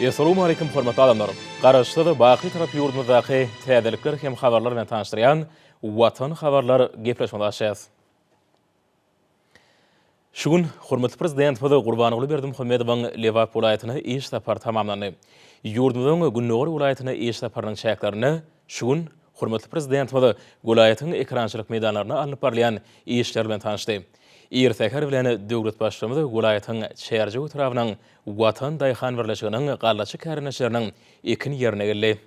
Essalamu aleýkum hormatly adamlar! Garaşsyz, baky tarap ýurdumyzdaky täzelikler hem habarlar bilen tanyşdyrýan Watan habarlar gepleşmesine açýas. Şu gün hormatly Prezidentimiz Gurbanguly Berdimuhamedowyň Lebap welaýatyna iş sapary tamamlandy. Ýurdumyzyň gündogar welaýatyna iş saparynyň çäklerinde Şu gün hormatly Prezidentimiz welaýatyň ekerançylyk meýdanlarynda alnyp barylýan işler bilen tanyşdy. Ir säher bilen döwlet Baştutanyz welaýatyň Çärjew etrabynyň Watan daýhan birleşiginiň gallaçy kärendeçileriniň ekin ýerine geldi.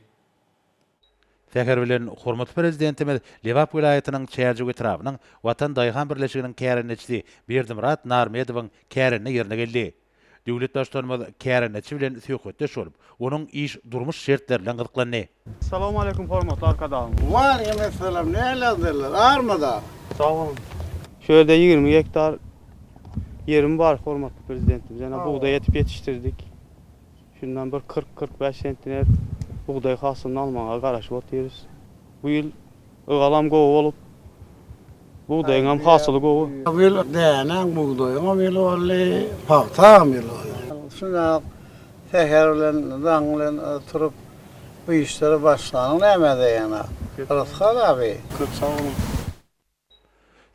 Säher bilen hormatly Prezidentimiz Lebap welaýatynyň Çärjew etrabynyň Watan daýhan birleşiginiň kärendeçisi Berdimyrat Narmedowyň kärende ýerine geldi. Döwlet Baştutanymyz kärendeçi bilen söhbetdeş bolup, onuň iş-durmuş şertleri bilen gyzyklandy. Salowmaleýkim hormatly Arkadagym! Waleýkim essalam, nälerdeler, armyda? Sag boluň. Şu ýerde ýigrimi gektar ýerim bar, hormatly Prezidentimiz ýene bugdaý ekip ýetişdirdik. Şundan bir kyrk-kyrk bäş sentiner bugdaý hasylyny almaga garaşyp otyrys. Bu ýyl ygalam gowy bolup, bugdaýyňam hasyly gowy. Bu ýyl dänäň, bugdaýyňam ýyly boldy, pagtaňam ýyly boldy. Şunda-ak säher bilen, daň bilen turup, bu işlere başlanyň näme edäýenä, Rysgal aby? Köp sag boluň.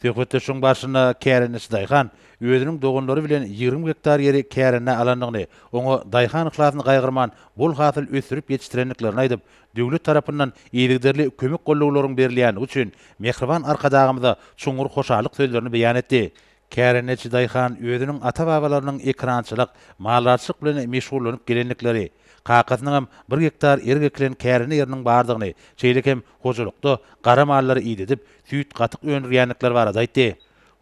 Söhbetdeşligiň barşynda kärendeçi daýhan özüniň doganlary bilen ýigrimi gektar ýeri kärendä alandygyny, oňa daýhan yhlasyny gaýgyrman bol hasyl ösdürip ýetişdirendiklerini aýdyp, döwlet tarapyndan yzygiderli kömek-gollawlaryň berilýändigi üçin Mähriban Arkadagymyza çuňňur hoşallyk sözlerini beýan etdi. Kärendeçi daýhan özüniň ata-babalarynyň ekrançylyk, maldarçylyk bilen meşgullanyp gelendikleri, kakasynyňam bir gektar erik ekilen kärende ýeriniň bardygyny, şeýle hem hojalykda gara mallary idedip, süýt-gatyk öndürýändikleri barada aýtdy.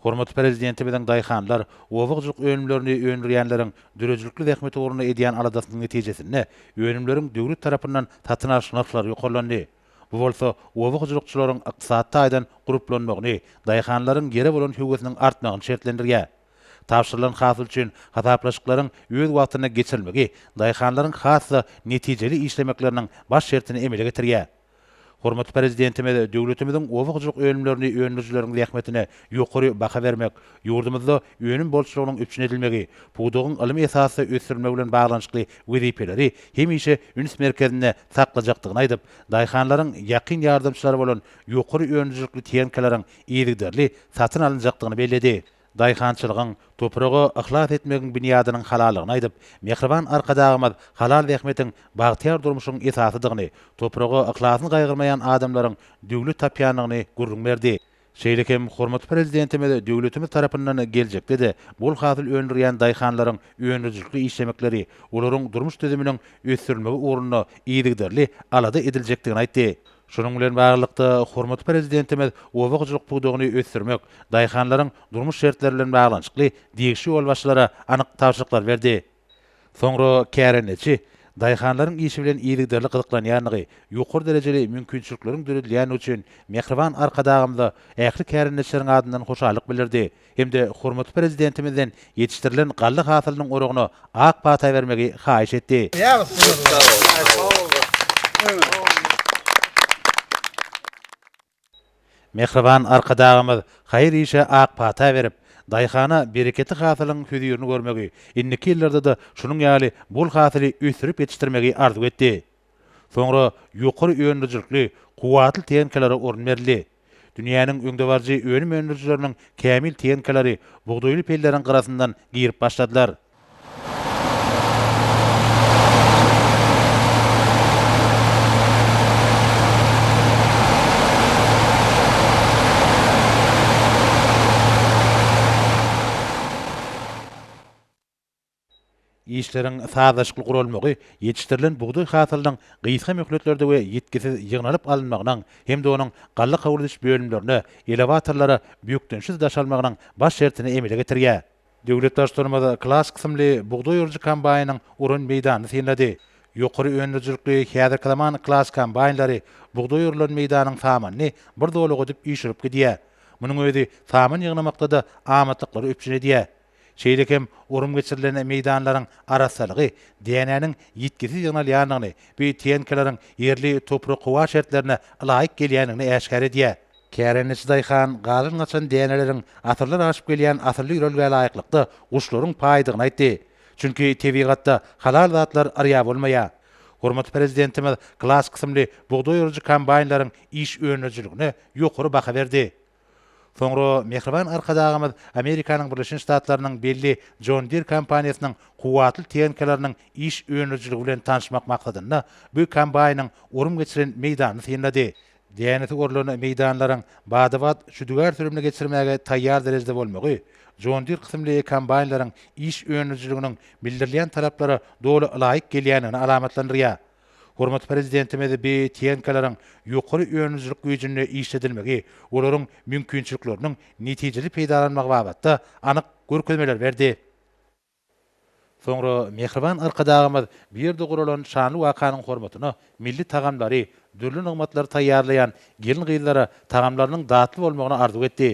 Hormatly Prezidentimiziň daýhanlar, oba hojalyk önümlerini öndürýänleriň döredijilikli zähmeti ugrunda edýän aladasynyň netijesinde önümleriň döwlet tarapyndan satyn alyş nyrhlary ýokarlandy. Bu bolsa oba hojalykçylaryň ykdysady taýdan gurplanmagyny, daýhanlaryň ýere bolan höwesiniň artmagyny şertlendirýär. Tabşyrylan hasyl üçin hasaplaşyklaryň öz wagtynda geçirilmegi daýhanlaryň has-da netijeli işlemekleriniň baş şertini emele getirýär. Hormatly Prezidentimiz döwletimiziň oba hojalyk önümlerini öndürijileriň zähmetine Ýokary baha bermek, ýurdumyzda önüm bolçulygynyň üpjün edilmegi, pudagyň ylmy esasda ösdürilmegi bilen baglanyşykly wezipeleri hemişe üns merkezinde saklajakdygyny aýdyp, daýhanlaryň ýakyn ýardamçylary bolan ýokary önümçilikli tehnikalaryň yzygiderli satyn alynjakdygyny belledi. Daýhançylygyň, topraga yhlas etmegiň binýadynyň halallygyny aýdyp, mähriban Arkadagymyz halal zähmetiň bagtyýar durmuşyň esasydygyny, topraga yhlasyny gaýgyrmaýan adamlaryň döwlet tapýandygyny gürrüň berdi. Şeýle hem hormatly Prezidentimiz döwletimiz tarapyndan geljekde-de bol hasyl öndürýän daýhanlaryň öndürijilikli işlemekleri, olaryň durmuş düzüminiň ösdürilmegi ugrunda yzygiderli alada ediljekdigini aýtdy. Şunuň bilen baglylykda, hormatly Prezidentimiz oba hojalyk pudagyny ösdürmek, daýhanlaryň durmuş şertleri bilen baglanyşykly degişli ýolbaşçylara anyk tabşyryklar berdi. Soňra kärendeçi daýhanlaryň işi bilen yzygiderli gyzyklanýandygy, ýokary derejeli mümkinçilikleriň döredilýändigi üçin mähriban Arkadagymyza ähli kärendeçileriň adyndan hoşallyk bildirdi hem-de hormatly Prezidentimizden ýetişdirilen galla hasylynyň oragyna ak pata bermegi haýyş etdi. Mähriban Arkadagymyz haýyr işe ak pata berip, daýhana bereketli hasylyň hözirini görmegi, indiki ýyllarda-da şunuň ýaly bol hasyly ösdürip ýetişdirmegi arzuw etdi. Soňra ýokary öndürijilikli, kuwwatly tehnikalara orun berildi. Dünýäniň öňdebaryjy önüm öndürijileriniň kämil tehnikalary bugdaýly pelleriň gyrasyndan girip başladylar. Işleriň sazlaşykly guralmagy ýetişdirilen bugdaý hasylynyň gysga möhletlerde we ýitgisiz ýygnalyp alynmagynyň hem-de onuň galla kabul ediş bölümlerine, elewatorlara bökdençsiz daşalmagynyň baş şertini emele getirýär. Döwlet Daş-Tormaz klass kysymly bugdaý urujy kombaýnyň uran meýdanyny synlady. Ýokary öndürijilikli häzirki zaman klass kombaýnlary bugdaý urulan meýdanyň samanyny bir zolaga edip üýşürip gidýär. Munuň özi saman ýygnamakda-da amatlyklary üpjün edýär. Şeýle hem urum geçirilen meýdanlaryň arassalygy dänäniň ýitgisiz ýygnalýandygyny, bu TNK-laryň ýerli toprak-howa şertlerine ylaýyk gelýändigini äşgär edýär. Kärendeçi daýhan galyn-gaçan däneleriň asyrlar aşyp gelýän asylly ýörelgä laýyklykda guşlaryň paýdygyny aýtdy. Çünki tebigatda halal zatlar yrýa bolmaýar. Hormatly Prezidentimiz Klass kysymly bugdaý orujy kombaýnlaryň iş önerijiligine ýokary baha berdi. Soňra mähriban Arkadagymyz Amerikanyň Birleşen Ştatlarynyň belli John Deere kompaniýasynyň kuwwatly tehnikalarynyň iş önerijiligi bilen tanyşmak maksadynda bu kombaýnyň orym geçiren meýdanyny synlady. Dänesi orulan meýdanlaryň bada-bat şüdügär sürümini geçirmäge taýýar derejede bolmagy, John Deere kysymly kombaýnlaryň iş önümçiliginiň bildirilýän talaplara doly ylaýyk gelýändigini alamatlandyrýar. Hormatly Prezidentimiz bi tehnikalaryň ýokary önümçilik güýjünde işledilmegi, olaryň mümkinçilikleriniň netijeli peýdalanmagy babatda anyk görkezmeler berdi. Soňra mähriban Arkadagymyz bu ýerde guralan şanly wakanyň hormatyna milli tagamlary, dürli nygmatlary taýýarlaýan gelin-gyzlara tagamlarynyň datly bolmagyny arzuw etdi.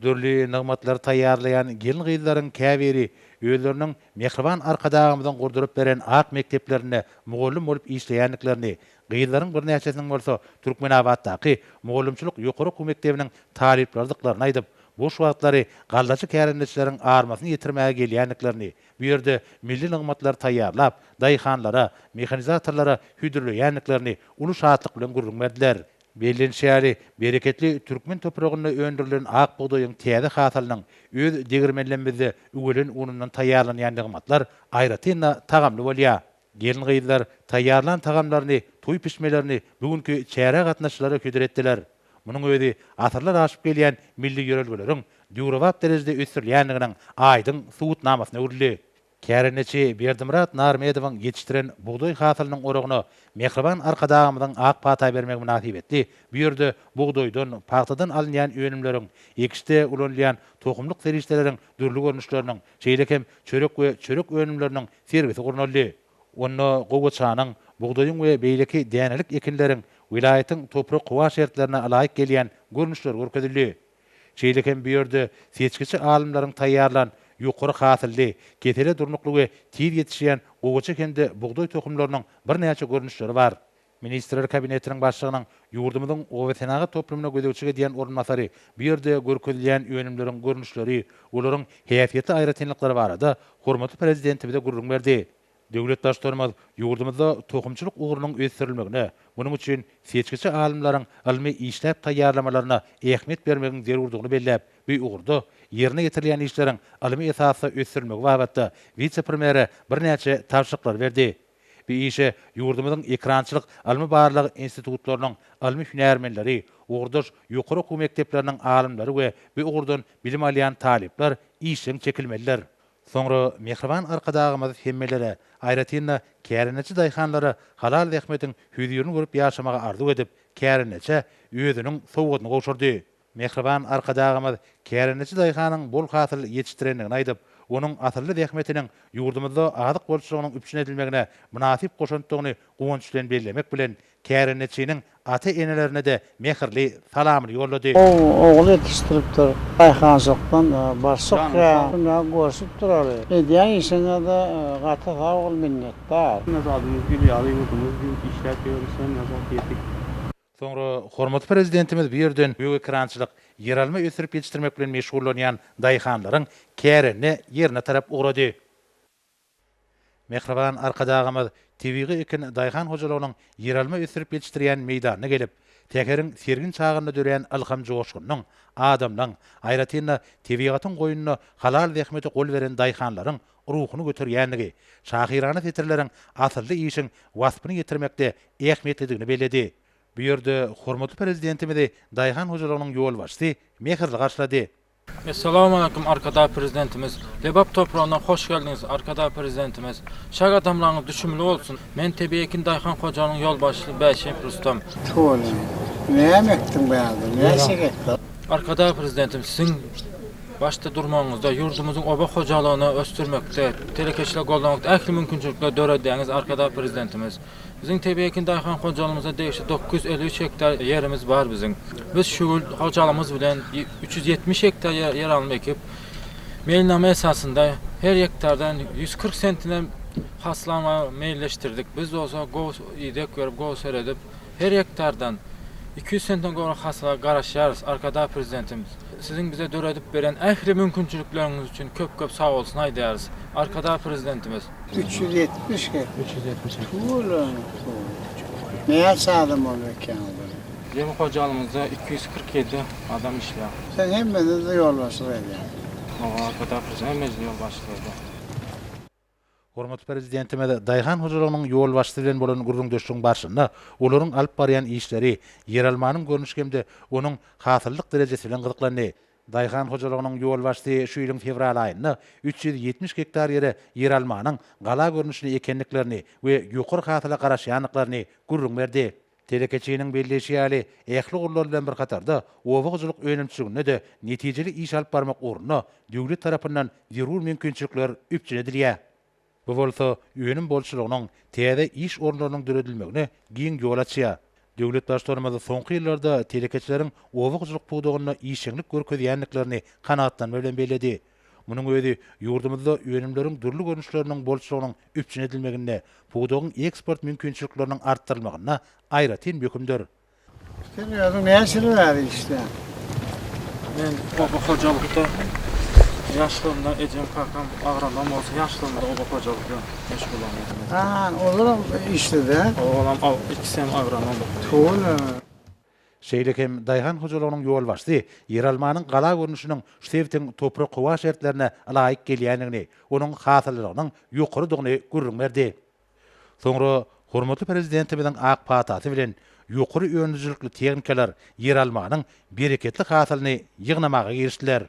Dürli nygmatlary taýýarlaýan gelin-gyzlaryň käbiri özleriniň mähriban Arkadagymyzyň gurduryp beren ak mekdeplerinde mugallym bolup işleýändiklerini, Gyzlaryň birnäçesiniň bolsa Türkmenabatdaky mugallymçylyk ýokary okuw mekdebiniň talyplarydyklaryny aýdyp, boş wagtlary gallaçy kärendeçileriň armasyny ýetirmäge gelýändiklerini, bu ýerde milli nygmatlary taýýarlap, daýhanlara, mehanizatorlara hödürleýändiklerini uly şatlyk bilen gürrüň berdiler. Bellenişi ýaly, bereketli türkmen topragynda öndürilen ak bugdaýyň täze hasylynyň öz degirmenlemizde üwelen unundan taýýarlanýan nygmatlar aýratyn-da tagamly bolýar. Gelin-gyzlar taýýarlan tagamlaryny, toý pişmelerini bu günki çärä gatnaşyjylara hödür etdiler. Munuň özi asyrlar aşyp gelýän milli ýörelgeleriň döwrebap derejede ösdürilýändiginiň aýdyň subutnamasyna öwrüldi. Kärendeçi Berdimyrat Narmedowyň ýetişdiren bugdaý hasylynyň oragyna mähriban Arkadagymyzyň ak pata bermegi mynasybetli bu ýerde bugdaýdan, pagtadan alynýan önümleriň, ekişde ulanylýan tohumlyk serişdeleriň dürli görnüşleriniň, şeýle hem çörek we çörek önümleriniň sergisi gurnaldy. Onda gowaçanyň, bugdaýyň we beýleki dänelik ekinleriň welaýatyň toprak-howa şertlerine ylaýyk gelýän görnüşleri görkezildi. Şeýle hem bu ýerde seçgiçi alymlaryň taýýarlan ýokary hasylly, kesele durnukly we tiz ýetişýän gowaça hem-de bugdaý tohumlarynyň birnäçe görnüşleri bar. Ministrler Kabinetiniň Başlygynyň ýurdumyzyň obasenagat toplumyna gözegçilik edýän orunbasary bu ýerde görkezilýän önümleriň görnüşleri, olaryň häsiýetli aýratynlyklary barada hormatly Prezidentimize gürrüň berdi. Döwlet Baştutanymyz ýurdumyzda tohumçylyk ugrunyň ösdürilmegine, munuň üçin seçgiçi alymlaryň ylmy işläp taýýarlamalaryna ähmiýet bermegiň zerurdygyny belläp, bu ugurda ýerine ýetirilýän işleriň ylmy esasda ösdürilmegi babatda wise-premýere birnäçe tabşyryklary berdi. Bu işe ýurdumyzyň ekrançylyk ylmy-barlag institutlarynyň ylmy hünärmenleri, ugurdaş ýokary okuw mekdepleriniň alymlary we bu ugurdan bilim alýan talyplar işjeň çekilmelidir. Soňra mähriban Arkadagymyz hemmelere, aýratyn-da, kärendeçi daýhanlara halal zähmetiň hözirini görüp ýaşamagy arzuw edip, kärendeçä özüniň sowgadyny gowşurdy. Mähriban Arkadagymyz kärendeçi daýhanyň bol hasyl ýetişdirendigini aýdyp, onuň asylly zähmetiniň ýurdumyzda azyk bolçulygynyň üpjün edilmegine mynasyp goşantdygyny guwanç bilen bellemek bilen, kärendeçiniň ata-enelerine-de mähirli salamyny ýollady. Gowy ogul ýetişdiripdir. Daýhançylykdan barşyk kän günä görşüp duraly. Edýän işiňize gaty sag bol minnetdar. Näzadymyz gül ýaly ýurdumyz diýip işläp ýörüs hem näzat diýedik. Soňra hormatly Prezidentimiz bu ýerden gök ekrançylyk, ýeralma ösdürip ýetişdirmek bilen meşgullanýan daýhanlaryň kärende ýerine tarap ugrady. Mähriban Arkadagymyz tebigy ekin daýhan hojalygynyň ýeralma ösdürip ýetişdirýän meýdanyna gelip, säheriň sergin çagynda dörän ylham-joşgunyň, adamlaň, aýratyn-da, tebigatyň goýnuna halal zähmete gol beren daýhanlaryň ruhuny göterýändigi, şahyrana setirleriň asylly işiň waspyny ýetirmekde ähmiýetlidigini belledi. Bu ýerde hormatly Prezidentimizi daýhan hojalygynyň ýolbaşçysy mähirli garşylady. Essalamualeýkum Arkadag Prezidentimiz! Lebap topragyna hoş geldiňiz Arkadag Prezidentimiz! Şa gadamlaryňyz düşümli bolsun! Men Tebigy ekin daýhan hojalygynyň ýolbaşçysy Bäşeýew Rustam. Tüweleme, näme ekdiň bärde, näçe gektar? Arkadag Prezidentimiz, siziň Başda durmagyňyzda, ýurdumyzyň oba hojalygyny ösdürmekde, telekeçiligi goldamakda ähli mümkinçilikleri döredýäňiz, Arkadag Prezidentimiz! Biziň tebigy ekin daýhan hojalygymyza degişli dokuz ýüz elli üç gektar ýerimiz bar biziň. Biz şu ýyl hojalygymyz bilen üç ýüz ýetmiş gektar ýer alma ekip, meýilnama esasynda her gektardan ýüz kyrk sentine hasyl almagy meýilleşdirdik. Biz bolsa gowy ideg berip, gowy seredip, Her gektardan iki ýüz sentden gowrak hasyla garaşýarys, Arkadag Prezidentimiz, Siziň bize döredip beren ähli mümkinçilikleriňiz üçin köp-köp sagbolsun aýdýarys, Arkadag Prezidentimiz. Üç ýüz ýetmiş hek. Üç ýüz ýetmiş hek. Tuwulyň suwy. Näçe adam bolup ekýäň olar? Biziň hojalygymyzda iki ýüz kyrk ýedi adam işleýär. Sen hemmeňe-de ýolbaşçylyk edýäň. Hawa, Arkadag Prezidentimiz hemmeňe-de ýolbaşçylyk edýär. Hormatly Prezidentimiz daýhan hojalygynyň ýolbaşçysy bilen bolan gürrüňdeşligiň barşynda olaryň alyp barýan işleri, ýeralmanyň görnüşi hem-de onuň hasyllyk derejesi bilen gyzyklandy. Daýhan hojalygynyň ýolbaşçysy şu ýylyň fewral aýynda üç ýüz ýetmiş gektar ýere ýeralmanyň gala görnüşli ekendiklerini we ýokary hasyla garaşýandyklaryny gürrüň berdi. Telekeçiniň belleýşi ýaly, ähli ugurlar bilen bir hatarda, oba hojalyk önümçiliginde-de netijeli iş alyp barmak ugrunda döwlet tarapyndan zerur mümkinçilikler üpjün edilýär. Bu bolsa önüm bolçulygynyň, täze iş orunlarynyň döredilmegine giň ýol açýar. Döwlet Baştutanymyz soňky ýyllarda telekeçileriň oba hojalyk pudagynda işjeňlik görkezýändiklerini kanagatlanma bilen belledi. Munuň özi ýurdumyzda önümleriň dürli görnüşleriniň bolçulygynyň üpjün edilmeginde, pudagyň eksport mümkinçilikleriniň artdyrylmagynda aýratyn möhümdir. Sen özüň näçe ýyl bäri işleýäň? Men oba hojalykda ýaşlygymda ejem kakam agronom bolsa ýaşlygymda oba hojalykda meşgulam edem. Haa, olar hem işledi hä? Olam ikisi hem agronom. Howla. Şeýle hem daýhan hojalygynyň ýolbaşçysy ýeralmanyň gala görnüşiniň şu sebitiň toprak-howa şertlerine ylaýyk gelýändigini, onuň hasyllylygynyň ýokarydygyny gürrüň berdi. Soňra hormatly Prezidentimiziň ak patasy bilen ýokary önümlijilikli tehnikalar ýeralmanyň bereketli hasylyny ýygnamaga girişdiler.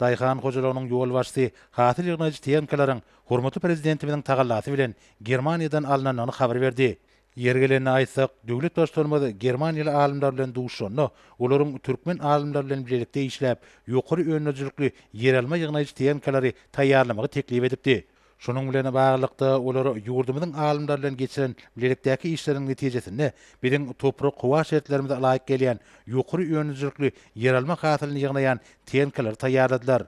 Daýhan hojalygynyň ýolbaşçysy hasyl ýygnaýjy tehnikalaryň hormatly Prezidentimiziň tagallasy bilen Germaniýadan alnandygyny habar berdi. Ýeri gelende aýtsak, döwlet Baştutanymyz germaniýaly alymlar bilen duşuşanda, olaryň türkmen alymlar bilen bilelikde işläp, ýokary öndürijilikli ýeralma ýygnaýjy tehnikalary taýýarlamagy teklip edipdi. Şunuň bilen baglylykda, olar ýurdumyzyň alymlary bilen geçiren bilelikdäki işleriniň netijesinde biziň toprak-howa şertlerimize laýyk gelýän ýokary önümçilikli ýeralma hasylyny ýygnaýan tenkalary taýýarladylar.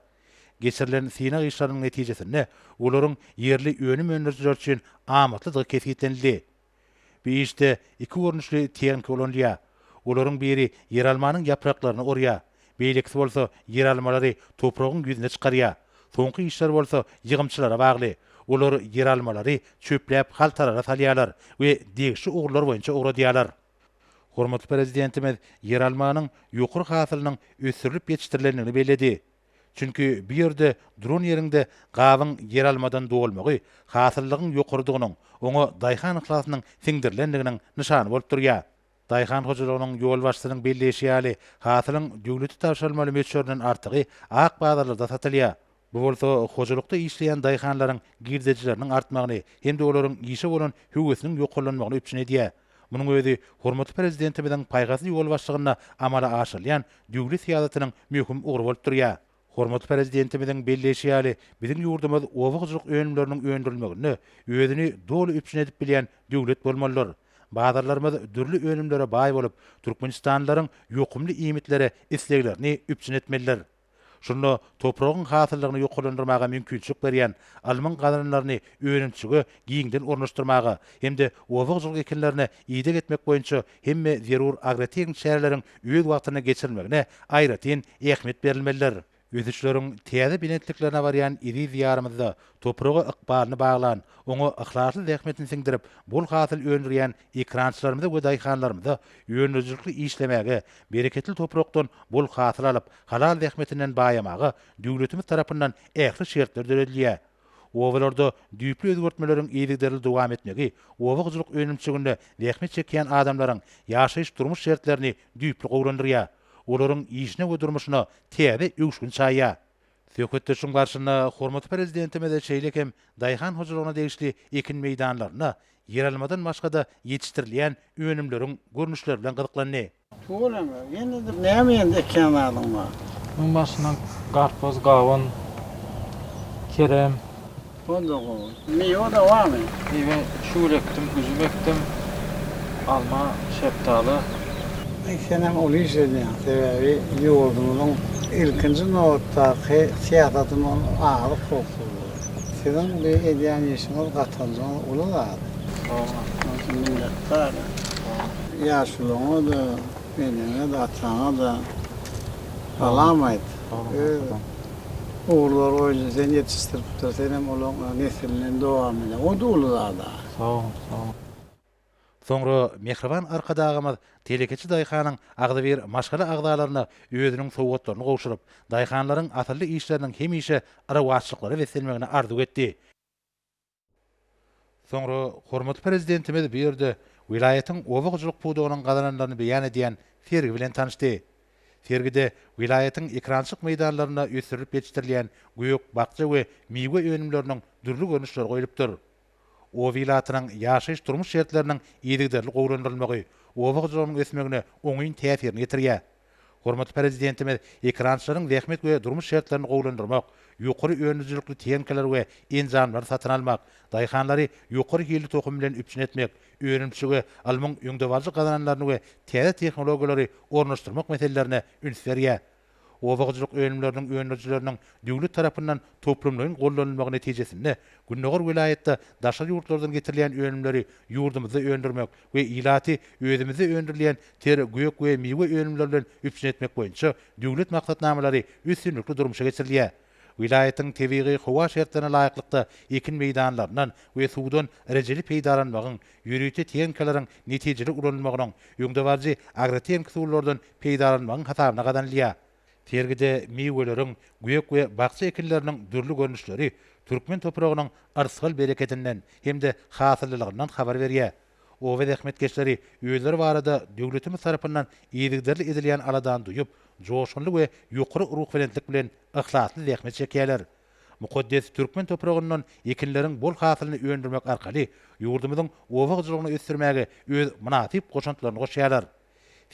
Geçirilen synag işleriniň netijesinde olaryň ýerli önüm öndürijiler üçin amatlydygy kesgitlenildi. Bu işde iki görnüşli tehnika ulanylýar. Olaryň biri ýeralmanyň ýapraklaryny orýar, beýlekisi bolsa ýeralmalary topragyň ýüzüne çykarýar. Soňky işler bolsa ýygymçylara bagly. Olar ýeralmalary çöpläp haltalara salýarlar we degişli ugurlar boýunça ugradýarlar. Hormatly Prezidentimiz ýeralmanyň ýokary hasylynyň ösdürilip ýetişdirilendigini belledi. Çünki bu ýerde duran ýeriňde gabyň ýeralmadan dolmagy hasyllygyň ýokarydygynyň, oňa daýhan yhlasynyň siňdirilendiginiň nyşany bolup durýar. Daýhan hojalygynyň ýolbaşçysynyň belleýşi ýaly, hasylyň döwlete tabşyrylmaly möçberinden artygy ak bazarlarda satylýar. Bu bolsa hojalykda işleýän daýhanlaryň girdejileriniň artmagyny hem-de olaryň işe bolan höwesiniň ýokarlanmagyny üpjün edýär. Munuň özi hormatly Prezidentimiziň paýhasly ýol başlygynda amala aşyrylýan döwlet syýasatynyň möhüm ugry bolup durýar. Hormatly Prezidentimiziň belleýşi ýaly, biziň ýurdumyz oba hojalyk önümleriniň öndürilmeginde özüni doly üpjün edip bilýän döwlet bolmalydyr. Bazarlarymyz dürli önümlere baý bolup, türkmenistanlylaryň ýokumly iýmitlere isleglerini üpjün etmelidir. Şunda topragyň hasyllygyny ýokarlandyrmaga mümkinçilik berýän almyň gazananlaryny önümçilige giňden ornaşdyrmaga hem-de oba-hojalyk ekinlerine ideg etmek boýunça hemme zerur agrotehniki çäreleriň öz wagtynda geçirilmegine aýratyn ähmiýet berilmelidir. Ösüşleriň täze belentliklerine barýan eziz Diýarymyzda topraga ykbalyny baglan, oňa yhlasly zähmetini siňdirip, bol hasyl öndürýän Ekerançylarymyza we daýhanlarymyza öndürijilikli işlemäge, bereketli toprakdan bol hasyl alyp, halal zähmetinden baýamaga döwletimiz tarapyndan ähli şertler döredilýär. Obalarda düýpli özgertmeleriň yzygiderli dowam etmegi oba hojalyk önümçiliginde zähmet çekýän adamlaryň ýaşaýyş-durmuş şertlerini düýpli gowulandyrýar, olaryň işine we durmuşyna täze öwüşgin çaýýar. Söhbetdeşiň barşynda hormatly Prezidentimiz şeýle hem daýhan hojalygyna degişli ekin meýdanlarynda ýeralmadan başga-da ýetişdirilýän önümleriň görnüşleri bilen gyzyklandy. Tugur ene, ýene-de näme ýene-de ekýän zadyň bar? Munuň barşynda garpyz, gawun, kerem. Onda gowy. Miwe de barmy? Miwe şugul ekdim, üzüm ekdim, alma, şepdaly. Senem uly iş edýäň, sebäbi ýurdumyzyň ilkinji nobatdaky syýasaty bu azyk howpsuzlygy. Siziň bu edýän işiňiz gatanjaňyz uly zat. Sag bol. Minnetdar. Ýaşulyňyz. Eneňe-de, ataňa-da salam aýt. Öz ogullary boýunça seni ýetişdiripdir, senem olaryň nesiliniň dowamyny. O-da uly zad-a. Sag bol, sag bol. Soňra mähriban Arkadagymyz telekeçi daýhanyň agzybir maşgala agzalaryna özüniň sowgatlaryny gowşuryp, daýhanlaryň asylly işleriniň hemişe rowaçlyklara beslenmegini arzuw etdi. Soňra hormatly Prezidentimiz bu ýerde welaýatyň oba hojalyk pudagynyň gazananlaryny beýan edýän sergi bilen tanyşdy. Sergide welaýatyň ekrançyk meýdanlarynda ösdürilip ýetişdirilýän gök, bakja we miwe önümleriniň dürli görnüşleri goýlupdyr. Oba ilatynyň ýaşaýyş-durmuş şertleriniň yzygiderli gowulandyrylmagy oba hojalygynyň ösmegine oňyn täsirini ýetirýär. Hormatly Prezidentimiz ekerançylaryň zähmet we durmuş şertlerini gowulandyrmak, ýokary önümçilikli tehnikalar we enjamlary satyn almak, daýhanlary ýokary hilli tohum bilen üpjün etmek, önümçilige alymyň öňdebaryjy gazananlaryny we täze tehnologiýalary ornaşdyrmak meselelerine üns berýär. Oba hojalyk önümleriniň öndürijileriniň döwlet tarapyndan toplumlaýyn gollanylmagy netijesinde, Gündogar welaýatda daşary ýurtlardan getirilýän önümleri ýurdumyzda öndürmek we ilaty özümizde öndürilýän ter, gök we miwe önümleri bilen üpjün etmek boýunça döwlet maksatnamalary üstünlikli durmuşa geçirilýär. Welaýatyň tebigy-howa şertlerine laýyklykda ekin meýdanlaryndan we suwdan rejeli peýdalanmagyň, ýörite tehnikalaryň netijeli ulanylmagynyň, öňdebaryjy agrotehniki usullardan peýdalanmagyň hasabyna gazanylýar. Sergide miweleriň, gök we bakja ekinleriniň dürli görnüşleri türkmen topragynyň yrsgal bereketinden hem-de hasylylygyndan habar berýär. Oba zähmetkeşleri özleri barada döwletimiz tarapyndan yzygiderli edilýän aladany duýup, joşgunly we ýokary ruhubelentlik bilen yhlasly zähmet çekýärler. Mukaddes türkmen topragyndan ekinleriň bol hasylyny öndürmek arkaly ýurdumyzyň oba hojalygyny ösdürmäge öz mynasyp goşantlaryny goşýarlar.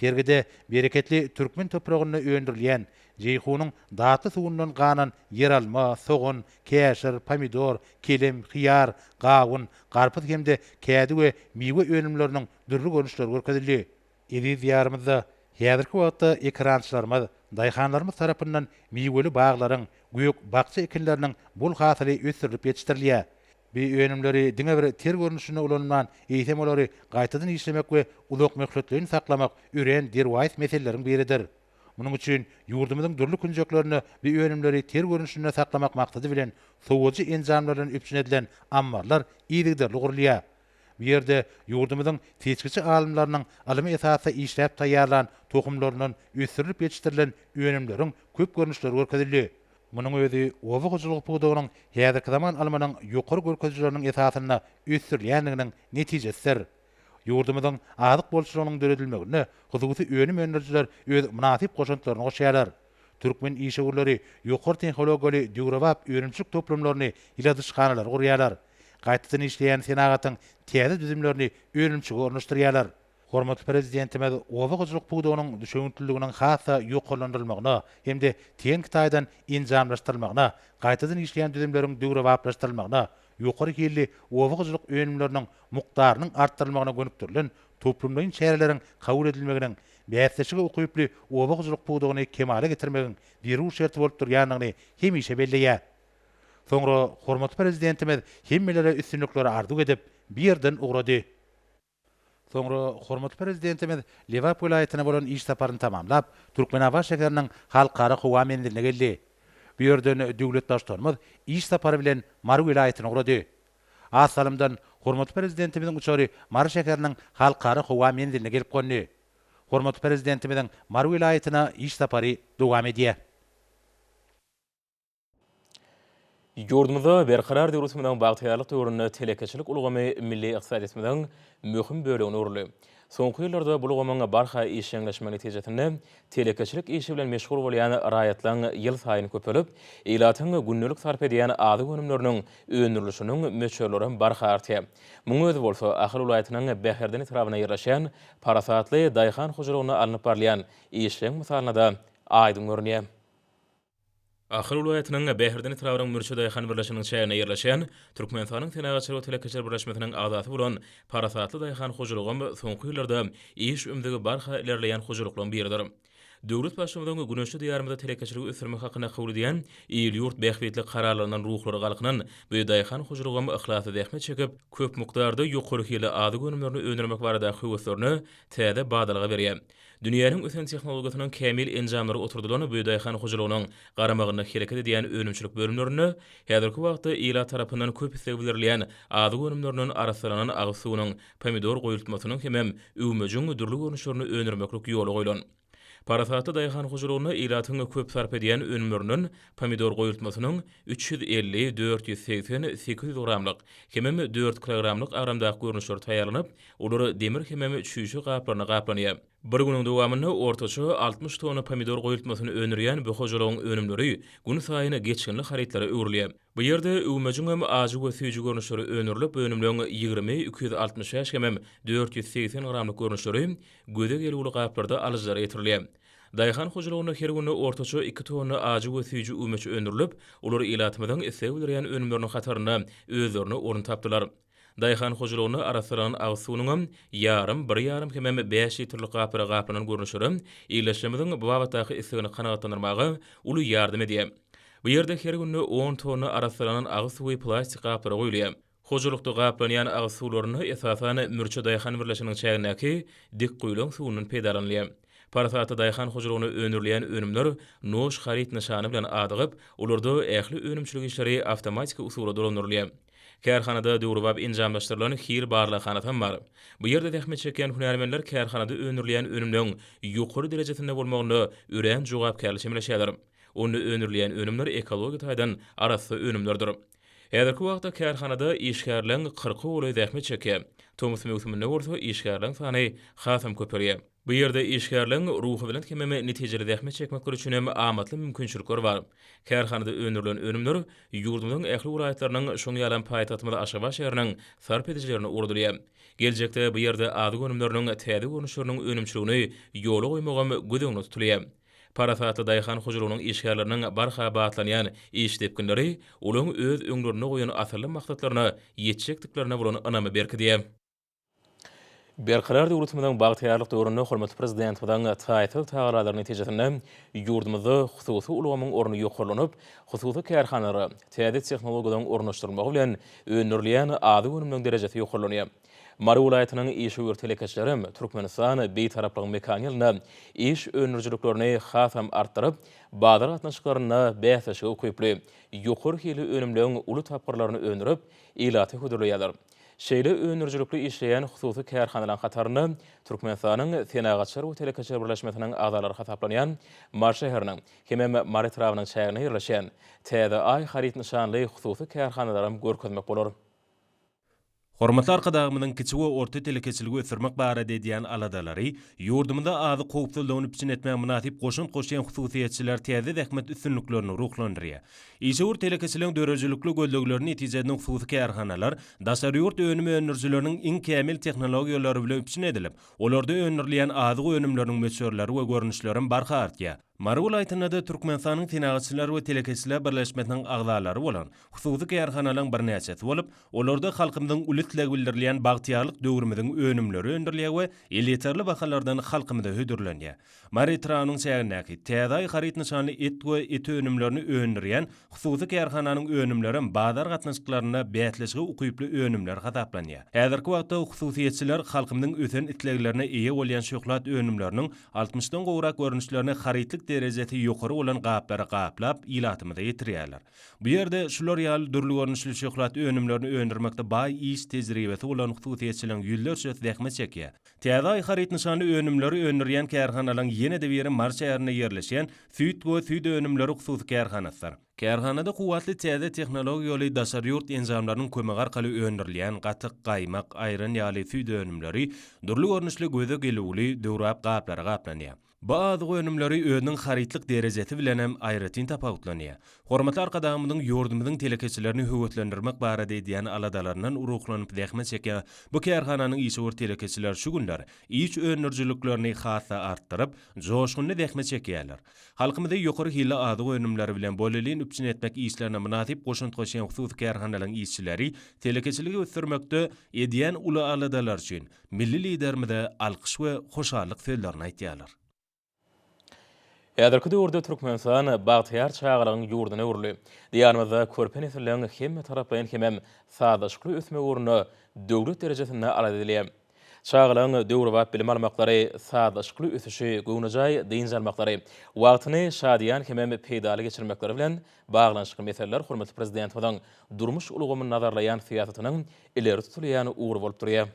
Sergide bereketli türkmen topragynda öndürilýän, Jeýhunyň datly suwundan ganan ýeralma, sogan, käşir, pomidor, kelem, hyýar, gawun, garpyz hem-de kädi we miwe önümleriniň dürli görnüşleri görkezildi. Eziz Diýarymyzda häzirki wagtda ekerançylarymyz, daýhanlarymyz tarapyndan miweli baglaryň, gök, bakja ekinleriniň bol hasyly ösdürilip ýetişdirilýär. Bu önümleri diňe bir ter görnüşinde ulanman, eýsem olary gaýtadan işlemek we uzak möhletleýin saklamak örän derwaýys meseleleriň biridir. Munuň üçin ýurdumyzyň dürli künjeklerinde bu önümleri ter görnüşinde saklamak maksady bilen sowujy enjamlardan üpjün edilen ammarlar yzygiderli gurulýar. Bu ýerde ýurdumyzyň seçgiçi alymlarynyň ylmy esasda işläp taýýarlan tohumlaryndan ösdürilip ýetişdirilen önümleriň köp görnüşleri görkezildi. Munuň özi oba hojalygy pudagynyň häzirki zaman ylmynyň ýokary görkezijileriniň esasynda ösdürilýändiginiň netijesidir. Ýurdumyzyň azyk bolçulygynyň döredilmegine hususy önüm öndürijiler öz mynasyp goşantlaryny goşýarlar. Türkmen işewürleri ýokary tehnologiýaly döwrebap önümçilik toplumlaryny, ýyladyşhanalary gurýarlar. Gaýtadan işleýän senagatyň täze düzümlerini önümçige ornaşdyrýarlar. Hormatly Prezidentimiz oba hojalyk pudagynyň düşewüntliliginiň has-da ýokarlandyrylmagyna hem-de tehniki taýdan enjamlaşdyrylmagyna, gaýtadan işleýän düzümleriň döwrebaplaşdyrylmagyna, ýokary hilli oba hojalyk önümleriniň mukdarynyň artdyrylmagyna gönükdirilen toplumlaýyn çäreleriň kabul edilmeginiň bäsleşige ukyply oba hojalyk pudagyny kemala getirmegiň zerur şerti bolup durýandygyny hemişe belleýär. Soňra hormatly Prezidentimiz hemmelere üstünlikleri arzuw edip, bir ýerden ugrady. Soňra hormatly Prezidentimiz Lebap welaýatyna bolan iş saparyny tamamlap, Türkmenabat şäheriniň Halkara howa menziline geldi. Bu ýerden döwlet Baştutanymyz iş sapary bilen Mary welaýatyna ugrady. Az salymdan hormatly Prezidentimiziň uçary Mary şäheriniň Halkara howa menziline gelip gondy. Hormatly Prezidentimiziň Mary welaýatyna iş sapary dowam edýär. Ýurdumyzda Berkarar döwletimiziň bagtyýarlyk döwründe telekeçilik ulgamy milli ykdysadyýetimiziň möhüm bölegine öwrüldi. Soňky ýyllarda bu ulgamyň barha işjeňleşmegi netijesinde telekeçilik işi bilen meşgul bolýan raýatlaryň ýylsaýyn köpelip, ilatyň gündelik sarp edýän azyk önümleriniň öndürilişiniň möçberlerem barha artýar. Munuň özi bolsa Ahal welaýatynyň Bäherden etrabynda ýerleşýän parasatly daýhan hojalygynda alnyp barylýan işleň mysalynda-da aýdyň görünýär. Ahal welaýatynyň Bäherden etrabynyň Mürçe daýhan birleşiginiň çäginde ýerleşen, Türkmenistanyň Senagatçylyk we telekeçiler birleşmesiniň agzasy bolan Parasatly daýhan hojalygam soňky ýyllarda iş ümzügi barha ilerleýän hojalyklaryň biridir. Döwlet Baştutanyň güneşli Diýarymyzda telekeçiligi ösdürmek hakynda kabul edýän il-ýurt bähbitli kararlaryndan ruhlary galkynan bu daýhan hojalygam yhlasly zähmet çekip, köp mukdarda ýokary hilli azyk önümlerini öndürmek baradaky höweslerine täze badalga berýär. Dünýäniň ösen tehnologiýasynyň kämil enjamlary oturdylan bu daýhan hojalygynyň garamagynda hereket edýän önümçilik bölümlerinde häzirki wagtda ilat tarapyndan köp isleg bildirilýän azyk önümlerinden arassalanan agyz suwunyň, pomidor goýultmasynyň hemem üwmejigiň dürli görnüşlerini öndürmeklik ýola goýlan. Parasatly daýhan hojalygynda ilatyň köp sarp edýän önümlerinden pomidor goýultmasynyň üç ýüz elli, dört ýüz segsen, sekiz ýüz gramlyk hemem dört kilogramlyk agramdaky görnüşleri taýýarlanyp, Olar demir hemem çüýşe gaplaryna gaplanýar. Bir günüň dowamynda ortaça altmyş tonna pomidor goýultmasyny öndürýän bu hojalygyň önümleri günsaýyn geçginli harytlara öwrülýär. Bu ýerde öwmejiňem ajy we süýji görnüşleri öndürilip, önümleň ýigrimi, iki ýüz altmyş bäş hemem dört ýüz segsen gramlyk görnüşleri göze gelgüli gaplarda alyjylara ýetirilýär. Daýhan hojalygynda her gün ortaça iki tonna ajy we süýji öwmeç öndürilip, olar ilatymyzyň isleg bildirýän önümleriniň hatarynda özlerine orun tapdylar. Daýhan hojalygyny arassalanan agyz suwunyňam ýarym, bir ýarym hemem bäş litrlik gaplara gaplanan görnüşleri ildeşlerimiziň bu babatdaky islegini kanagatlandyrmaga uly ýardam edýär. Bu ýerde her günde on tonna arassalanan agyz suwy plastik gaplara guýulýar. Hojalykda gaplanýan agyz suwlarynda, esasan, Mürçe daýhan birleşiginiň çägindäki Dikguýylaň suwundan peýdalanylýar. Parasatly daýhan hojalygynda öndürilýän önümler Noş haryt nyşany bilen adygyp, olarda ähli önümçilik işleri awtomatiki usuly dolandyrylýar. Kärhanada döwrebap enjamlaşdyrylan hil barlaghana hem bar. Bu ýerde zähmet çekýän hünärmenler kärhanada öndürilýän önümleň ýokary derejesinde bolmagynda örän jogapkärli çemeleşýärler. Onda öndürilýän önümler ekologiýa taýdan arassa önümlerdir. Häzirki wagtda kärhanada işgärleň kyrka golaýy zähmet çekýär. Tomus möwsüminde bolsa işgärleň sany hasam köpelýär. Bu ýerde işgärleriň ruhubelent hem-ä netijeli zähmet çekmekleri üçin hem amatly mümkinçilikler bar. Kärhanada öndürilen önümler ýurdumyzyň ähli welaýatlarynyň, şonuň ýalam paýtagtymyz Aşgabat şäheriniň sarp edijilerine ugradylýar. Geljekde bu ýerde azyk önümleriniň täze görnüşleriniň önümçiligini ýola goýmagam göz öňünde tutulýar. Parasatly daýhan hojalygynyň işgärleriniň barha batlanýan iş depginleri olaryň öz öňlerinde goýan asylly maksatlaryna ýetjekdiklerine bolan ynamy berkidýär. Berkarar döwletimiziň bagtyýarlyk döwründe hormatly Prezidentimiziň taýsyz tagallalary netijesinde ýurdumyzda hususy ulgamyň orny ýokarlanyp, hususy kärhanalara täze tehnologiýalaryň ornaşdyrylmagy bilen öndürilýän azyk önüminiň derejesi ýokarlanýar. Mary welaýatynyň işewür telekeçilerem Türkmenistan Bitaraplygyň mekany ýylynda iş öndürijiliklerini hasam artdyryp, bazar gatnaşyklarynda bäsleşige ukyply, ýokary hilli önümleň uly tapgyrlaryny öndürip, ilata hödürleýärler. Şeýle öndürijilikli işleýän hususy kärhanalaryň hatarynda Türkmenistanyň Senagatçylar we telekeçiler birleşmesiniň agzalary hasaplanýan Mary şäheriniň hemem Mary etrabynyň çäginde ýerleşýän Täze Aý haryt nyşanly hususy kärhanalaram görkezmek bolar. Hormatly Arkadagymyzyň kiçi we orta telekeçiligi ösdürmek barada edýän aladalary, ýurdumyzda azyk howpsuzlygyny üpjün etmäge mynasyp goşant goşýan hususyýetçiler täze zähmet üstünliklerini ruhlandyrýar. Işewür telekeçiligiň döredijilikli gözlegleri netijesinde hususy kärhanalar daşary ýurt önüm öndürijileriniň iň kämil tehnologiýalary bilen üpjün edilip, olarda öndürilýän azyk önümleriniň möçberleri we görnüşleri hem barha artýar. Mary welaýatynda-da Türkmenistanyň Senagatçylar we telekeçiler birleşmesiniň agzalary bolan hususy kärhanalaryň birnäçesi bolup, olarda halkymyzyň uly islegi bildirilýän bagtyýarlyk döwrümiziň önümleri öndürilýär we elýeterli bahalardan halkymyza hödürlenýär. Mary etrabynyň çägindäki Täzeaý haryt nyşanly et we et önümlerini öndürýän hususy kärhananyň önümlerem bazar gatnaşyklarynda bäsleşige ukyply önümler hasaplanýar. Häzirki wagtda hususyýetçiler halkymyzyň ösen isleglerine eýe bolýan şöhlat önümleriniň altmyşdan gowrak görnüşlerini harytlyk derejesi ýokary bolan gaplara gaplap, ilatymyza ýetirýärler. Bu ýerde şular ýaly dürli görnüşli şöhlat önümlerini öndürmekde baý iş tejribesi bolan hususyýetçiligiň ýüzlerçesi zähmet çekýär. Täze Aý haryt nyşanly önümleri öndürýän kärhanalaryň ýene-de biri Mary şäherinde ýerleşýän Süýt we süýt önümleri hususy kärhanasydyr. Kärhanada kuwwatly täze tehnologiýaly daşary ýurt enjamlarynyň kömegi arkaly öndürilýän gatyk, gaýmak, aýran ýaly süýt önümleri dürli görnüşli göze gelüwli, döwrebap gaplara gaplanýar. Bu azyk önümleri özüniň harytlyk derejesi bilen hem aýratyn tapawutlanýar. Hormatly Arkadagymyzyň ýurdumyzyň telekeçilerini höweslendirmek barada edýän aladalaryndan ruhlanyp zähmet çekýän bu kärhananyň işewür telekeçiler şu günler iş öndürijiliklerini has-da artdyryp, joşgunly zähmet çekýärler. Halkymyzy ýokary hilli azyk önümleri bilen bolelin üpjün etmek işlerine mynasyp goşant goşýan hususy kärhanalaryň işçileri telekeçiligi ösdürmekde edýän uly aladalary üçin Milli Liderimize alkyş we hoşallyk sözlerini aýtýarlar. Häzirki döwürde Türkmenistan bagtyýar çagalygyň ýurduna öwrüldi. Diýarymyzda körpe nesilleriň hemmetaraplaýyn hemem sazlaşykly ösmegi ugrunda döwlet derejesinde alada edilýär. Çagalaryň döwrebap bilim almaklary, sazlaşykly ösüşi, göwnejaý dynç almaklary, wagtyny şadyýan hemem peýdaly geçirmekleri bilen Baglanyşykly meseleler hormatly Prezidentimiziň durmuş ulgamyny nazarlaýan syýasatynyň ileri tutulýan ugry bolup durýar.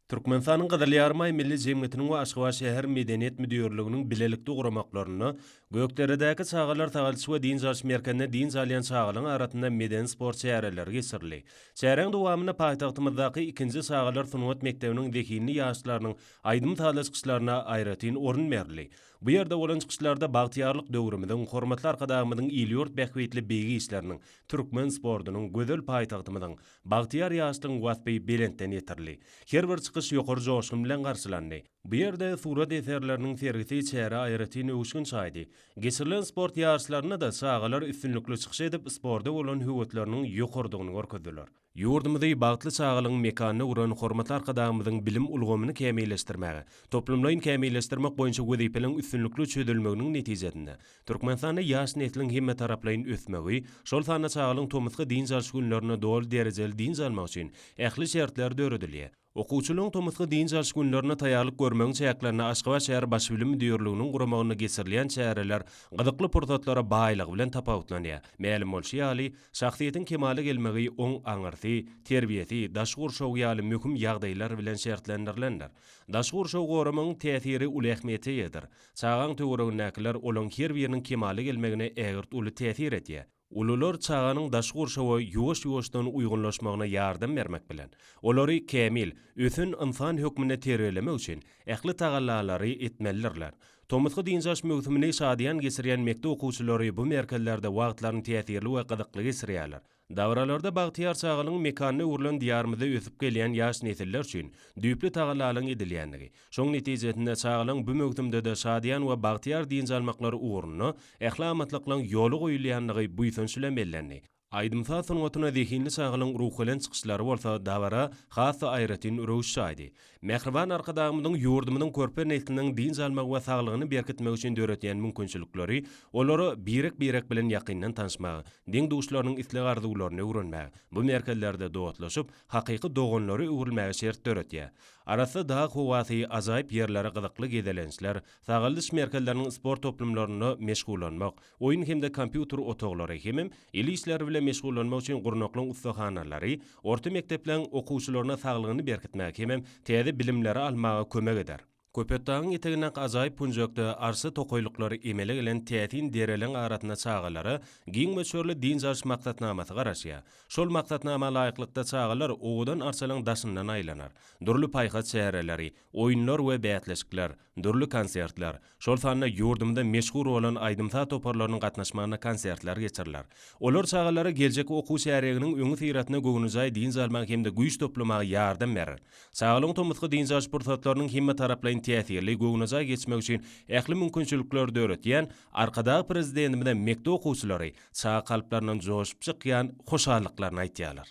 Türkmenistanyň Gyzyl Ýarymaý Milli jemgyýetiniň we Aşgabat şäher medeniýet müdirliginiň bilelikde guramaklarynda Gökderedäki çagalar sagalçy we dynç alyş merkezinde dynç alýan çagalaryň arasynda medeni-sport çäreleri geçirildi. Çäräň dowamynda paýtagtymyzdaky ikinji çagalar sungat mekdebiniň zehinli ýaşlarynyň aýdym-sazly çykyşlaryna aýratyn orun berildi. Bu ýerde bolan çykyşlarda bagtyýarlyk döwrümiziň, hormatly Arkadagymyzyň il-ýurt bähbitli beýik işleriniň, türkmen sportunyň, gözel paýtagtymyzyň, bagtyýar ýaşlygyň waspy belentden ýetirildi. Her bir çykyş ýokary joşgun bilen garşylandy. Bu ýerde surat eserleriniň sergisi çärä aýratyn öwüşgin çaýdy. Geçirilen sport ýaryşlarynda-da çagalar üstünlikli çykyş edip, sporda bolan höwesleriniň ýokarydygyny görkezdiler. Ýurdumyzy bagtly çagalygyň mekanyna öwren hormatly Arkadagymyzyň bilim ulgamyny kämilleşdirmäge, toplumlaýyn kämilleşdirmek boýunça wezipeleriň üstünlikli çözülmeginiň netijesinde, Türkmenistanda ýaş nesliň hemmetaraplaýyn ösmegi, şol sanda çagalygyň tomusky dynç alyş günlerinde doly derejeli dynç almagy üçin ähli şertler döredilýär. Okuwçylaryň tomusky dynç alyş günlerine taýýarlyk görmegiň çäklerinde Aşgabat şäher Baş bilim müdirliginiň guramagynda geçirilýän çäreler gyzykly pursatlara baýlygy bilen tapawutlanýar. Mälim bolşy ýaly, şahsyýetiň kemala gelmegi oň aňyrsy, terbiýesi, daşky gurşawy ýaly möhüm ýagdaýlar bilen şertlendirilendir. Daşky gurşawy goramagyň täsiri uly ähmiýete eýedir. Çagaň töweregindäkiler olaň her biriniň kemala gelmegine ägirt uly täsir edýär. Ulular çaganyň daşky gurşawa ýuwaş-ýuwaşdan uýgunlaşmagyna ýardam bermek bilen, olary kämil, ösen ynsan hökmünde terbiýelemek üçin ähli tagallalary etmelidirler. Tomusky dynç alyş möwsümini şadyýan geçirýän mekdep okuwçylary bu merkezlerde wagtlaryny täsirli we gyzykly geçirýärler. Dabaralarda bagtyýar çagalygyň mekanyna öwrülen Diýarymyzda ösüp gelýän ýaş nesiller üçin düýpli tagallalaryň edilýändigi, Şoň netijesinde çagalaň bu möwsümde-de şadyýan we bagtyýar dynç almaklary ugrunda ähli amatlyklaň ýola goýulýandygy buýsanç bilen bellendi. Aýdym-saz sungatyna zehinli çagalaň ruhubelent çykyşlary bolsa dabara has-da aýratyn röwüş çaýdy. Mähriban Arkadagymyzyň ýurdumyzyň körpe nesliniň dynç almagy we saglygyny berkitmegi üçin döredýän mümkinçilikleri, olara birek-birek bilen ýakyndan tanyşmagy, deň-duşlarynyň isleg-arzuwlaryny öwrenmäge, bu merkezlerde dostlaşyp, hakyky doganlara öwrülmäge şert döretýär. Arassa dag howasy, ajaýyp ýerleri, gyzykly gezelençler, sagaldyş merkezleriniň sport toplumlarynda meşgullanmak, oýun hem-de kompýuter otaglary hemem el işleri bilen meşgullanmak üçin gurnaklyň ussahanalary orta mekdepleň okuwçylaryna saglygyny berkitmäge hemem täze bilimleri almaga kömek eder. Köpetdagyň etegindäki ajaýyp künjekde arssa tokaýlyklary emele gelen täsin dereleriň arasynda çagalara giň möçberli dynç alyş maksatnamasy garaşýar. Şol maksatnama laýyklykda çagalar owadan arçalygyň daşyndan aýlanar. Dürli paýhas çäreleri, oýunlar we bäsleşikler, dürli konsertler, şol sanda ýurdumyzda meşhur bolan aýdym-saz toparlarynyň gatnaşmagynda konsertler geçiriler. Olar çagalara geljek okuw çärýeginiň öňüsyrasynda göwnejaý dynç almaga hem-de güýç toplamaga ýardam berer. Çagalygyň tomusky dynç alyş pursatlarynyň hemmetaraplaýyn täsirli, göwnejaý geçmegi üçin ähli mümkinçilikleri döretýän Arkadagly Prezidentimize mekdep okuwçylary, Çaga kalplaryndan joşup çykýan hoşallyklaryny aýtýarlar.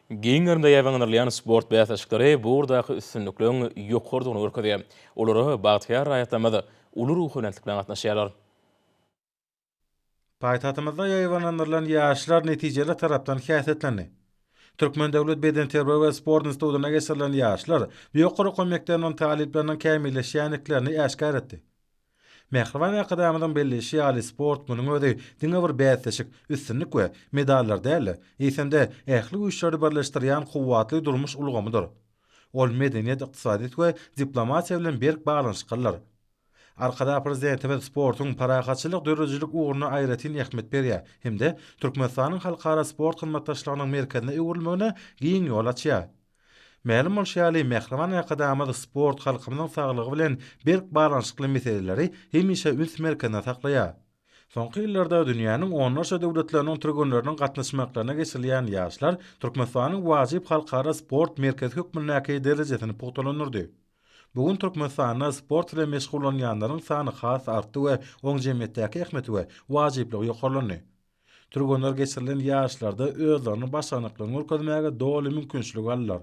Giň gerimde ýaýbaňlandyrylýan sport bäsleşikleri bu ugurdaky üstünlikligiň ýokarydygyny görkezýär. Olara bagtyýar raýatlarymyz uly ruhubelentlik bilen gatnaşýarlar. Paýtagtymyzda ýaýbaňlandyrylan ýaşlar netijeli tarapdan häsiýetlendi. Türkmen döwlet bedenterbiýe we sport institutyna geçirilen ýaşlar bu ýokary okuw mekdebiniň talyplarynyň kämilleşýändiklerini äşgär etdi. Mähriban Arkadagymyzyň belleýşi ýaly, sport, munuň özi diňe bir bäsleşik, üstünlik we medallar däl-de, eýsem-de, ähli güýçleri birleşdirýän kuwwatly durmuş ulgamydyr. Ol medeniýet, ykdysadyýet we diplomatiýa bilen berk baglanyşyklydyr. Arkadag Prezidentimiz sportuň parahatçylyk döredijilik ugruna aýratyn ähmiýet berýär hem-de Türkmenistanyň halkara sport hyzmatdaşlygynyň merkezine öwrülmegine giň ýol açýar. Mälim bolşy ýaly, mähriban Arkadagymyz sport halkymyzyň saglygy bilen berk baglanyşykly meseleleri hemişe üns merkezinde saklaýar. Soňky ýyllarda dünýäniň onlarça döwletleriniň türgenleriniň gatnaşmaklaryna geçirilýän Ýaşlar Türkmenistanyň wajyp halkara sport merkezi hökmündäki derejesini pugtalandyrdy. Bu gün Türkmenistanda sport bilen meşgullanýanlaryň sany has artdy we oň jemgyýetdäki ähmiýeti we wajyplygy ýokarlandy. Türgenler geçirilen ýaryşlarda özleriniň başarnyklaryny görkezmäge doly mümkinçilik aldylar.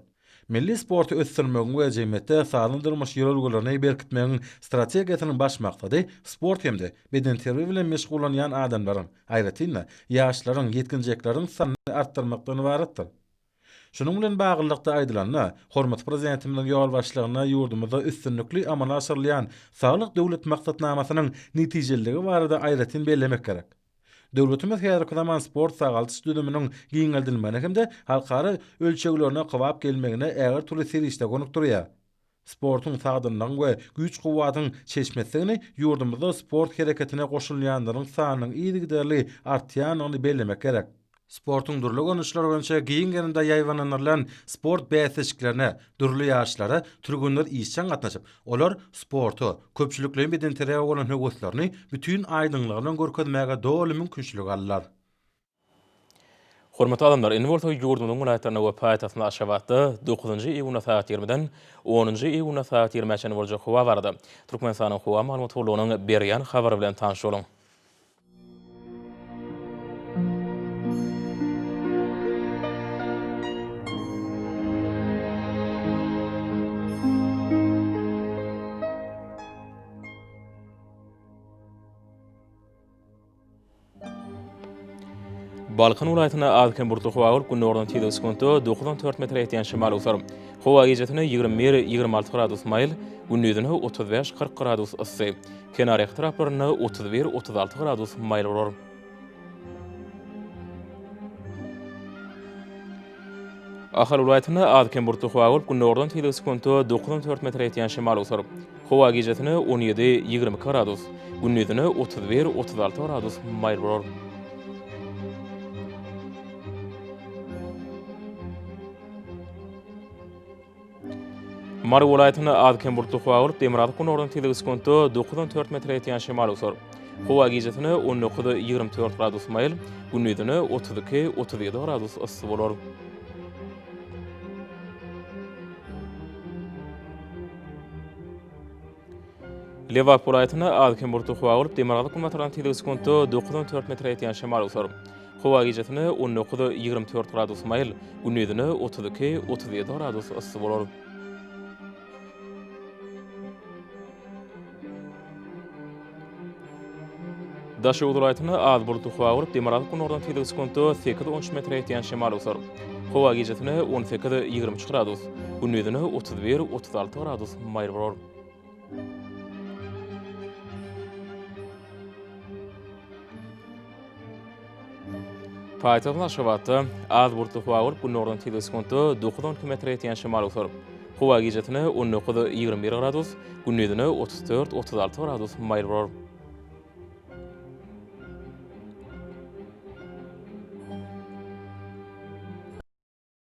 Milli sporty ösdürmegiň we jemgyýetde sagdyn durmuş ýörelgelerini berkitmegiň strategiýasynyň baş maksady sport hem-de bedenterbiýe bilen meşgullanýan adamlaryň, aýratyn-da, ýaşlaryň, ýetginjekleriň sanyny artdyrmakdan ybaratdyr. Şunuň bilen baglylykda aýdylanda, hormatly Prezidentimiziň ýolbaşçylygynda ýurdumyzda üstünlikli amala aşyrylýan Saglyk Döwlet maksatnamasynyň netijeliligi barada aýratyn bellemek gerek. Döwletimiz häzirki zaman sport-sagaldyş düzüminiň giňeldilmegine hem-de halkara ölçeglerine kybap gelmegine ägirtürli serişde gönükdirýär. Sportuň sagdynlygyň we güýç-kuwwatyň çeşmesidigini, ýurdumyzda sport hereketine goşulýanlaryň sanynyň yzygiderli artýandygyny bellemek gerek. Sportuň dürli görnüşleri boýunça giň gerimde ýaýbaňlandyrylan sport bäsleşiklerine dürli ýaşlara türgenler işjeň gatnaşyp, olar sporta, köpçülikleýin bedenterbiýä bolan höweslerini bütin aýdyňlygy bilen görkezmäge doly mümkinçilik aldylar. Hormatly adamlar, indi bolsa ýurdumyzyň welaýatlarynda we paýtagtymyz Aşgabatda dokuzynjy iýunda sagat ýigrimiden onunjy iýunda sagat ýigrimä çenli boljak howa barada Türkmenistanyň Howa maglumat gullugynyň berýän habary bilen tanyş boluň. Balkan welaýatynda az-kem bulutly howa bolup, gündogardan tizligi sekuntda dokuz on dört metre ýetýän şemal öwser. Howa gijesi ýigrimi bir, ýigrimi alty gradus maýyl, gündizine otuz bäş, kyrk gradus yssy. Kenar etraplarynda otuz bir, otuz alty gradus maýyl bolar. Ahal welaýatynda az-kem bulutly howa bolup, gündogardan tizligi sekunta dokuz on dört metre ýetýän şemal eser. Howa gijesine on ýedi, ýigrimi iki gradus, gündizine otuz bir, otuz alty gradus maýyl bolar. Mary welaýatynda az-kem bulutlyk howa bolup, demirgazyk günordan tizligi sekuntda dokuzdan dört metre ýetýän şemal öwser. Howa gijesine on dokuz-ýigrimi dört gradus maýyl, gündizine otuz iki-otuz ýedi gradus yssy bolar. Lebap welaýatynda az-kem bulutly howa bolup, demirgazyk-günbatardan tizligi sekuntda dokuz on dört metre ýetýän şemal öwser. Howa gijesi on dokuz, ýigrimi dört gradus maýyl, gündizine otuz iki, otuz ýedi gradus yssy bolar. Daşoguz welaýatynda az bulutly howa bolup, demirgazyk günordan tizligi sekuntda sekiz on üç metre ýetýän şemal eser. Howa gijasine on sekiz ýigrimi üç gradus, gündizine otuz bir otuz alty gradus maýyl bolar. Paýtagtyň Aşgabatda az bulutly howa bolup, gündogardan tizligi sekuntda dokuz-on iki metre ýetýän şemal eser. Howa gijesine on dokuz-ýigrimi bir gradus, gündizine otuz dört-otuz alty gradus maýyl bolar.